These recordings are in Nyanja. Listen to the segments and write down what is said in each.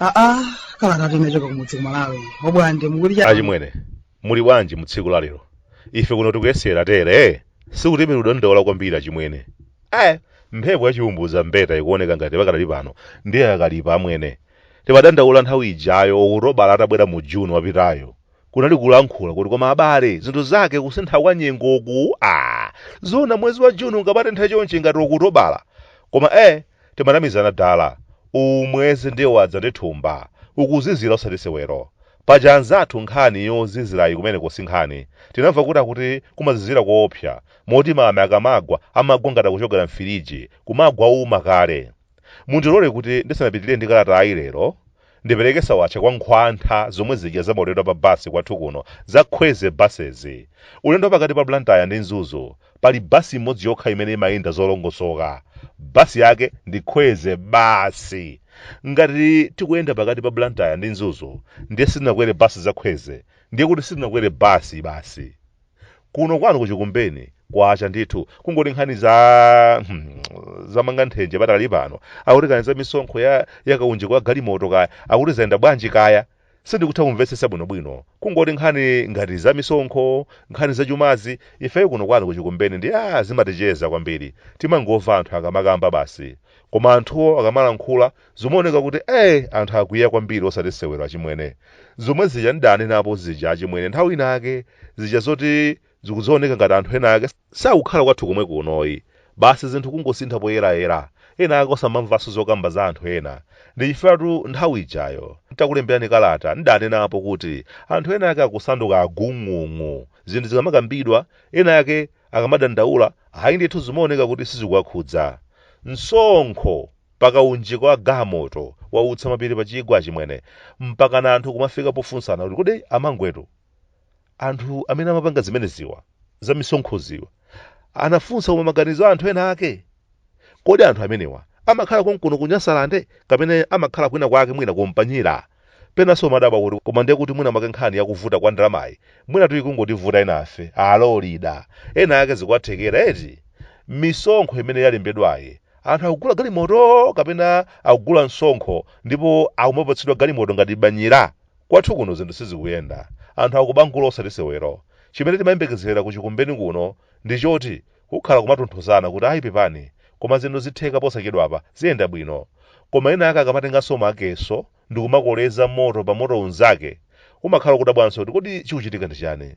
aa kalata tinachoka kumudzi kumalawi obwande mukuti cha achimwene muli bwanji mutsiku la lero ife kuno tikuyesera tere sikuti tili kudandaula kwambiri achimwene ayi mphepo yachiumbuza mbeta ikuoneka ngati pakadali pano ndiye yakalipa amwene Timadandaula nthawi ijayo Okutobala atabwera mu June wapitayu, kunali kulankhula kuti koma abale zinthu zake kusintha kwa nyengoku aah zoona mwezi wa June ungamatenthe chonchi ngati Okutobala? Koma eh timanamizana dala, uwu mwezi ndiye wadza ndi thumba, ukuzizira osati sewero. Paja anzathu nkhani yozizirayi kumeneko si nkhani, tinamva kuti akuti kumazizira koopsa moti mame akamagwa amagwa ngati akuchokera m'firiji, kumagwa ouma kale. Mundilole kuti ndisanapitirire ndi kalatayi lero, ndipereke sawatcha kwa nkhwantha zomwe zija za maulendo a pa bus kwathu kuno za Kwezy Buses. Ulendo wa pakati pa Blantyre ndi Mzuzu, pali bus imodzi yokha imene imayenda zolongosoka. Bus yake ndi Kwezy basi! Ngati tikuyenda pakati pa Blantyre ndi Mzuzu ndiye sitinakwere bus za Kwezy, ndiye kuti sitinakwere bus basi. kuno kwanu kuchikumbeni kwacha ndithu kungoti nkhani za hmm, zamanga nthenje pakali pano akuti nkhani za misonkho ya ya kaunjika wa galimoto kaya akuti zayenda bwanji kaya sindikutha kumvetsetsa bwinobwino kungoti nkhani ngati za misonkho nkhani za chumazi ifeyo kuno kwanu kuchikumbeni ndi a zimaticheza kwambiri timangomva anthu akamakamba basi koma anthuwo akamalankhula zimaoneka kuti eh anthu akwiya kwambiri osati sewero achimwene zomwe zija ndidanenapo zija achimwene nthawi inayake zija zoti zikuzooneka ngati anthu ena ake sakukhala kwathu komwe kunoyi basi zinthu kungosintha poyerayera ena ake osamamvanso zokamba za anthu ena ndi chifukwa nthawi ijayo ntakulemberani kalata ndidanenapo kuti anthu ena ake akusanduka agung'ung'u zinthu zikamakambidwa ena ake akamadandaula ayi ndithu zimaoneka kuti sizikuwakhudza msonkho pa kaunjika wa galimoto wautsa mapiri pa chigwa achimwene mpakana anthu kumafika pofunsana kuti kodi amangwetu anthu amene amapanga zimeneziwa za misonkhoziwa anafunsa koma maganizo a anthu ena ake kodi anthu amenewa amakhala konkuno ku nyasalande kapena amakhala kwina kwake mwina kumpanyira Penanso umadabwa kuti koma ndiye kuti mwina mwake nkhani ya kuvuta kwa ndalamayi mwinatu ikungotivuta enafe. Alo, Lida! Ena ake zikuwathekera eti? Misonkho imene yalembedwayi, anthu akugula galimoto kapena akugula msonkho ndipo akumapatsidwa galimoto ngati banyira? Kwathu kuno zinthu sizikuyenda. Anthu akubangula osati sewero. Chimene timayembekezera ku Chikumbeni kuno ndi choti Kukhala kumatonthozana kuti ayi pepani koma zinthu zitheka posachedwapa ziyenda bwino. Koma ena ake akamatenganso machesi ndikumakoleza moto pa moto unzake umakhala kudabwanso kuti kodi chikuchitika ndi chani?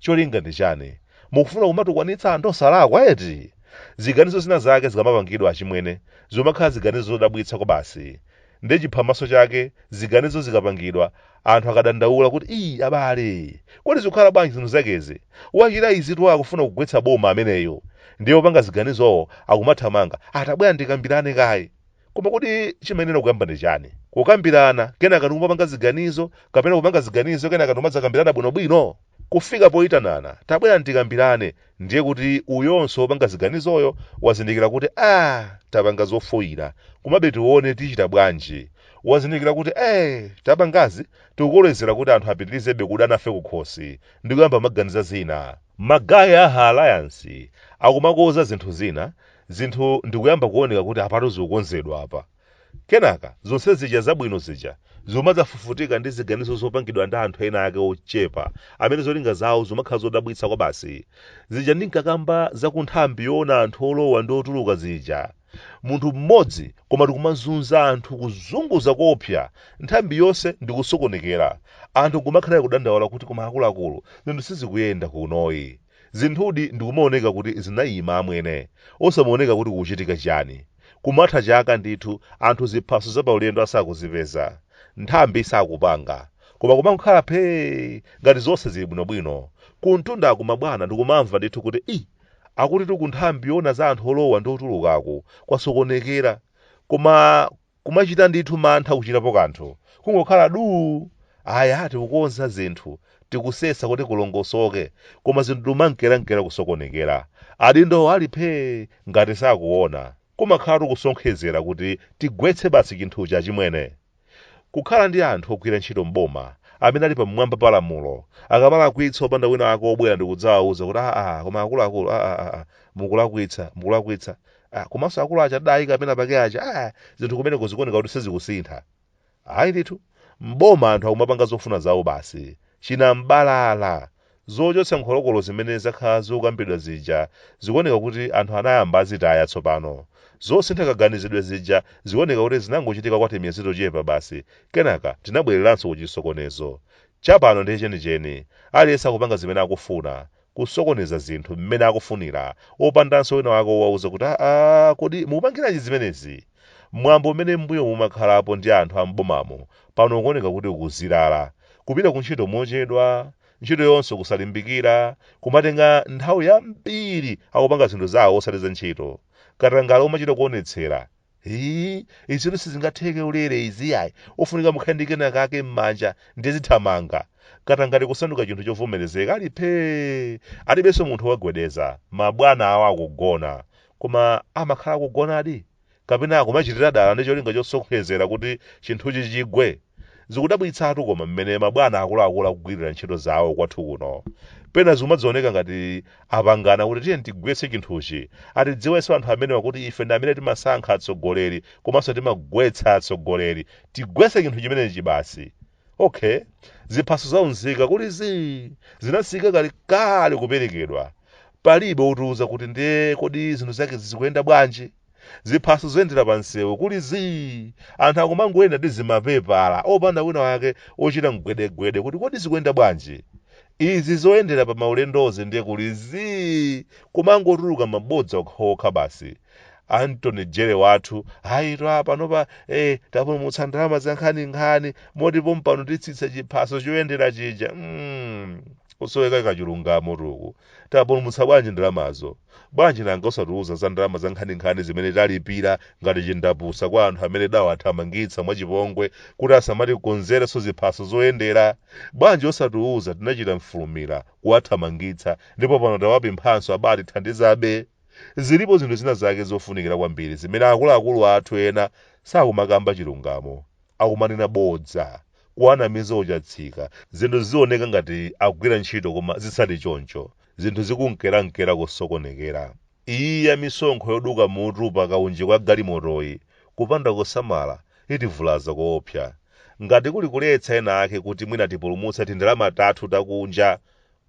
Cholinga ndi chani? Mukufuna kumatukwanitsa anthu osalakwa eti? Ziganizo zina zake zikamapangidwa achimwene zimakhala ziganizo zodabwitsa kwabasi. ndi chiphamaso chake ziganizo zikapangidwa anthu akadandaula kuti ii abale kodi zikukhala bwanji zinthu zakezi wachita izitu akufuna kugwetsa boma ameneyo ndiye opanga ziganizowo akumathamanga ah tabwerani tikambirane kaye koma kodi chimayenera kuyamba ndi chani kukambirana kenaka ndikumapanga ziganizo kapena kupanga ziganizo kenaka ndikumadzakambirana bwinobwino kufika poitanana tabwerani tikambirane ndiye kuti uyonso wopanga ziganizoyo wazindikira kuti ah tapanga zofoira komabe tione tichita bwanji wazindikira kuti eh tapangazi tikukolezera kuti anthu apitirizebe kudana nafe kukhosi ndi kuyamba kumaganiza zina magaye a ha alliance akumakonza zinthu zina zinthu ndikuyamba kuoneka kuti apatu zikukonzedwa apa Kenaka, zonse zija zabwino zija zimadzafufutika ndi ziganizo zopangidwa ndi anthu ena ake ochepa amene zolinga zawo zimakhala zodabwitsa kwabasi. Zija ndinkakamba za ku nthambi yoona anthu olowa ndi otuluka zija. Munthu mmodzi koma ndikumazunza anthu kuzunguza koopsa nthambi yonse ndi kusokonekera. Anthu nkumakhala kudandaula kuti koma akuluakulu, zinthu sizikuyenda kunoyi. Zinthudi ndikumaoneka kuti zinaima amwene, osamaoneka kuti kukuchitika chiyani. Kumatha chaka ndithu anthu ziphaso za paulendo asakuzipeza. Nthambi isakupanga. Koma kumangokhala phee! Ngati zonse zili bwinobwino. Kumtundaku mabwana ndikumamva ndithu kuti ii! Akutitu kunthambi yoona za anthu olowa ndi otulukaku kwasokonekera. Koma Kumachita ndithu mantha kuchitapo kanthu. Kungokhala duu! Aya, tikukonza zinthu, tikusesa kuti kulongosoke, koma zinthu ndikumankerankera kusokonekera. Adindowo ali phee! ngati sakuona. Kumakhalatu kusonkhezera kuti tigwetse basi chinthuchi achimwene! Kukhala ndi anthu ogwira ntchito m'boma amene ali pamwamba pa lamulo, akamalakwitsa opanda wina wake wobwera ndikudzawauza kuti aah koma akuluakulu aah aah mukulakwitsa, mukulakwitsa, ah, komanso akulu aja adaika penapake aja ah, zinthu kumeneko zikuoneka kuti sizikusintha ayi ndithu mboma anthu akumapanga zofuna zawo basi chinambalala zochotsa nkholokolo zimene zakhala zikukambidwa zija zikuoneka kuti anthu anayamba zitaya tsopano zosintha kaganizidwe zija zikuoneka kuti zinangochitika kwa timiyezi tochepa basi kenaka tinabwereranso ku chisokonezo chapano ndi chenicheni aliyense akupanga zimene akufuna kusokoneza zinthu mmene akufunira, opandanso winawake wowauza kuti aa kodi mukupangiranji zimenezi? Mwambo umene m'mbuyomu umakhalapo ndi anthu a m'bomamo pano ukuoneka kuti ukuzilala. Kupita kuntchito mochedwa, ntchitoyonso kusalimbikira, kumatenga nthawi yambiri akupanga zinthu zawo osati za ntchito. Katangale umachita kuonetsera Hii, izitu sizingatheke ulere izi yayi. Ofunika mukhale ndi kena kake m'manja ndiye zithamanga. Katangale kusanduka chinthu chovomerezeka ali phee. Alibenso munthu owagwedeza. Mabwana awo akugona. Koma amakhala akugonadi? Kapena akumachitira dala ndi cholinga chosonkhezera kuti chinthuchi chigwe? Zikudabwitsatu koma mmene mabwana akuluakulu akugwirira ntchito zawo kwathu kuno. Pena zikumadzioneka ngati apangana kuti tiyeni tigwetse chinthuchi. Atidziwenso anthu amenewa kuti ife ndi amene timasankha atsogoleri komanso timagwetsa atsogoleri. Tigwetse chinthu chimenechi basi. Okay, ziphaso za unzika kuli zii zinasiyika kalekale kuperekedwa. Palibe otiuza kuti ndiye kodi zinthu zakezi zikuyenda bwanji? ziphaso zoyendera pa msewu kuli zii anthu akumangoyenda ndi zimapepala opanda wina wake ochita mgwedegwede kuti kodi zikuyenda bwanji izi zoyendera pa maulendozi ndiye kuli zii kumangotuluka mabodza okhaokha basi Attorney General wathu ayitu aa panopa eh, tapulumutsa ndalama za nkhaninkhani moti pompano titsitsa chiphaso choyendera chija mm, kusoweka kwa chilungamotu uku Tapulumutsa bwanji ndalamazo? Bwanji nanga osatiuza za ndalama zankhaninkhani zimene talipira ngati chindapusa kwa anthu amene tidawathamangitsa mwachipongwe kuti asamatikonzerenso ziphaso zoyendera? Bwanji osatiuza tinachita mfulumira kuwathamangitsa ndipo pano tawapemphanso abatithandizabe? Zilipo zinthu zina zake zofunikira kwambiri zimene akuluakulu athu ena sakumakamba chilungamo. akumanena bodza, kuwanamiza uchatsika, zinthu zizioneka ngati akugwira ntchito koma zisali choncho, zinthu zikunkerankera kusokonekera. Iyi ya misonkho yoduka mutu pa kaunjika wa galimotoyi, kupanda kusamala, itivulaza koopsa. Ngati kuli kuletsa enaake kuti mwina tipulumutse tindalama tathu takunja,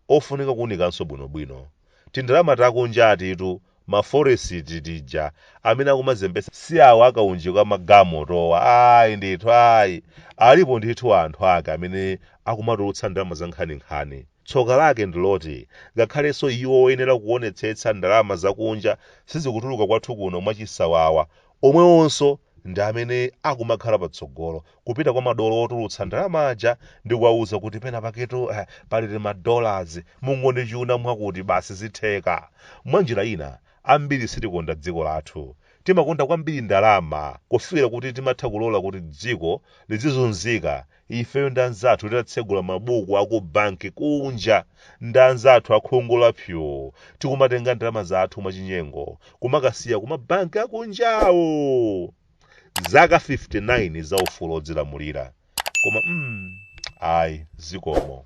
ofunika kuunikanso bwinobwino. Tindalama takunjatitu, ma forex tija, amene akumazembetsa si awa a kaunjika wa magalimotowa ayi ndithu ayi. Alipo ndithu anthu ake amene akumatulutsa ndalama zankhaninkhani. Tsoka lake ndi loti ngakhalenso iwo oyenera kuonetsetsa ndalama zakunja sizikutuluka kwathu kuno mwachisawawa Omwewonso ndi amene akumakhala patsogolo, kupita kwa madolo otulutsa ndalama aja ndi kuwauza kuti penapaketu eh, pali tima dollars, mungondichuna mwakuti basi zitheka. Mwanjira ina, ambiri sitikonda dziko lathu. Timakonda kwambiri ndalama kufikira kuti timatha kulola kuti dziko lizizunzika ifeyo ndi anzathu tidatsegula mabuku aku banki kunja ndi anzathu akhungu la pyo tikumatenga ndalama zathu mwachinyengo kumakasiya kuma banki akunjawo zaka 59 za ufulu odzilamulira koma mm, ayi zikomo